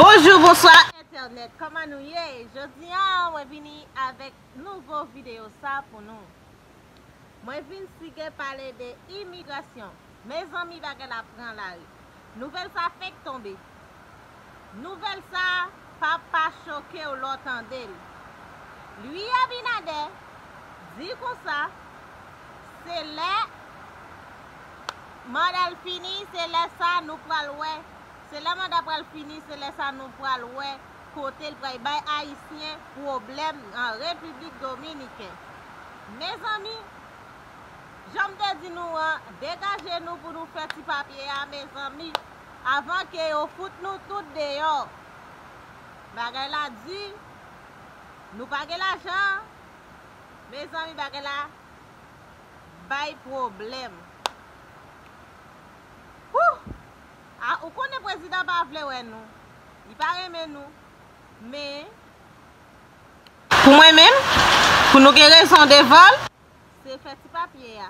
Bonjou bonswa entènèt kòman nou ye jodi an mwen vini avèk nouvo videyo sa pou nou mwen vin sige pale de imigrasyon mezanmi bagay la pran lari nouvèl sa fenk tonbe nouvèl sa pa pa chokew lè w tandel ui abinadè di konsa se lè mandal fini se lè sa nou pral wè Se lè manda pral fini se lè sa nou pral wè kotel pray bay ayisyen pwoblèm nan repiblik dominiken mezanmi janm te di nou an degaje nou pou nou fè ti papye a mezanmi avan ke yo fout nou tout deyò bagay la di nou pa gen lajan mezanmi bagay la bay pwoblèm. A ou konnen prezidan pa vle wè nou li pa renmen nou men. Pou mwen menm pou nou gen rezon devanl. Se fè ti papye a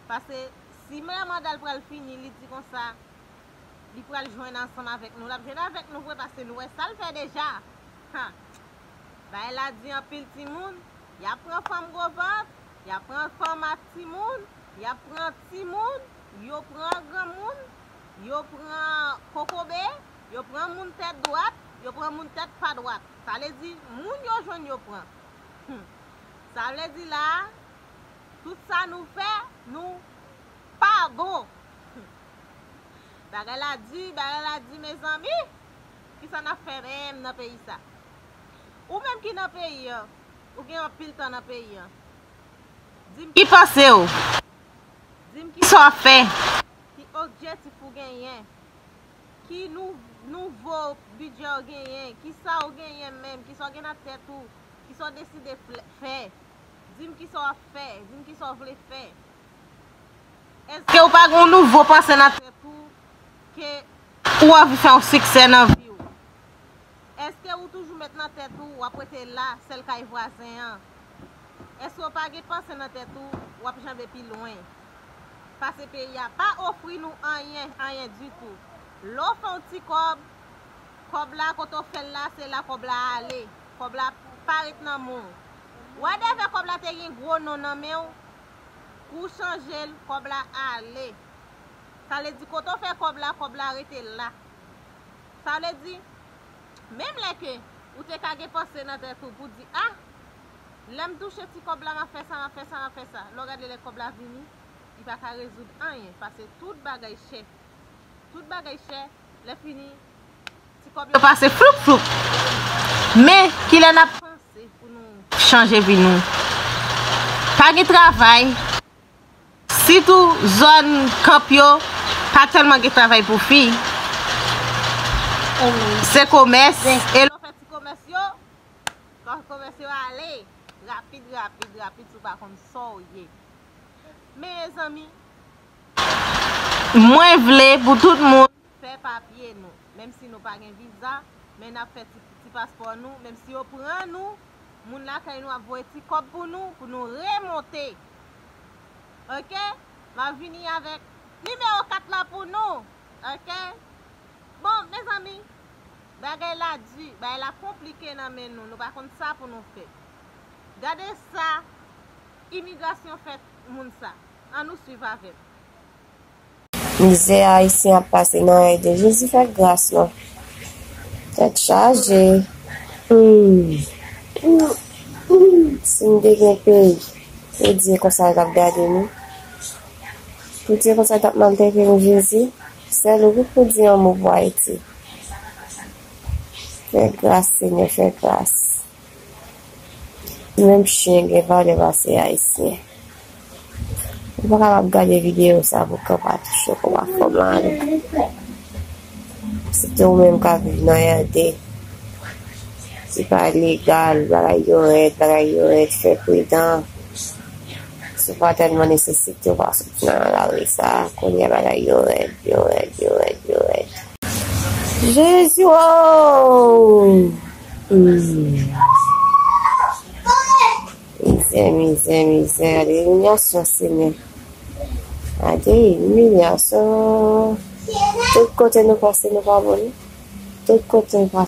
pase si men mandal pral fini li di konsa li pral jwenn ansanm avèk nou lap jwenn avèk nou vre pase nou wè sal fè deja ha bagay la di anpil timoun yap pran fanm gwo vant yap pran fanm ak timoun yap pran timoun yo pran granmoun yo pran kokobe, yo pran moun tèt dwat, yo pran moun tèt pa dwat. Sa vle di, moun yo jwenn yo pran. Hum! Sa vle di la a, tout sa nou fè, nou pa bon. Hum! Bagay la di, bagay la di mezanmi! Ki sa n ap fè menm nan peyi sa? Ou menm ki nan peyi an, ou gen anpil tan nan peyi an, di m ki panse ou, di m ki sa w ap fè? Ki okjetif ou genyen? Ki nouvo bidjè ou genyen? Kisa ou genyen menm? Kisa ou gen nan tèt ou? Kisa ou deside fè? Di m kisa w ap fè? Di m kisa ou vle fè? Èske ou pa gen yon nouvo panse nan tèt ou ke ou anvi fè yon siksè nan vi ou? Eske ou toujou met nan tèt ou wap rete la sèl kay vwazen an? Eske ou pa gen panse nan tèt ou wap janbe pi lwen? Pase peyi a pa ofri nou anyen, anyen ditou. Lè ou fè yon ti kòb, kòb la kote ou fèl la se la kòb la ale. Kòb la pa ret nan men w. Wadèvè kòb la te gen gwo non nan men w, kou ou chanje l, kòb la ale. Sa vle di kote ou fè kòb la, kòb la rete la. Sa vle di, menm lè ke ou te ka gen panse nan tèt ou pou di, ah, lè m touche ti kòb la, m ap fè sa, m ap fè sa, m ap fè sa. Lè w gade lè kòb la vini, li pa ka rezoud anyen, pase tout bagay chè. Tout bagay chè, lè fini, ti kòb yo pase floup floup. Men, ki lè n ap panse pou nou chanje vi nou? Pa gen travay. Sitou zòn camp yo pa tèlman gen travay pou fi. Se komès. E lè w fè ti komès yo, komès yo ale rapid rapid rapid si w pa konn sa w ye. Mezanmi, mwen vle pou tout moun fè papye nou, menm si nou pa gen viza, men n ap fè ti paspò nou, menm si yo pran nou, moun lakay nou ap voye ti kòb pou nou, pou nou remonte. Ok? M ap vini avèk nimewo 4 la pou nou. Ok? Bon, mezanmi, bagay la di, bagay la konplike nan men nou, nou pa konn sa pou nou fè. Gade sa imigrasyon fè moun sa. An nou swiv avè m. Mizè ayisyen ap pase nan ede jezi fè gras non tèt chaje sim te gen peyi poudye konsa yo tap gade nou poudye konsa tap maltrete nou jezi sèl ou wi poudi yon mo pou ayiti fè gras senyè fè gras. Menm chyen gen valè pase ayisyen. Ou pa kapab gade video sa pou kanpa touche kòb ak kòb lan ale. Se te ou menm ka viv nan yande. Se pa legal, bagay yo rèd, bagay yo rèd, fè pridan. Si ou pa tèlman nesesite ou pa soti nan lari sa, kounye a bagay yo rèd, yo rèd, yo rèd, yo rèd. Jezi woo! Mizè, mizè, mizè, gade imilyasyon senye. Gade imilyasyon. Tout kote nou pase nou pa boni. Tout kote nou pase.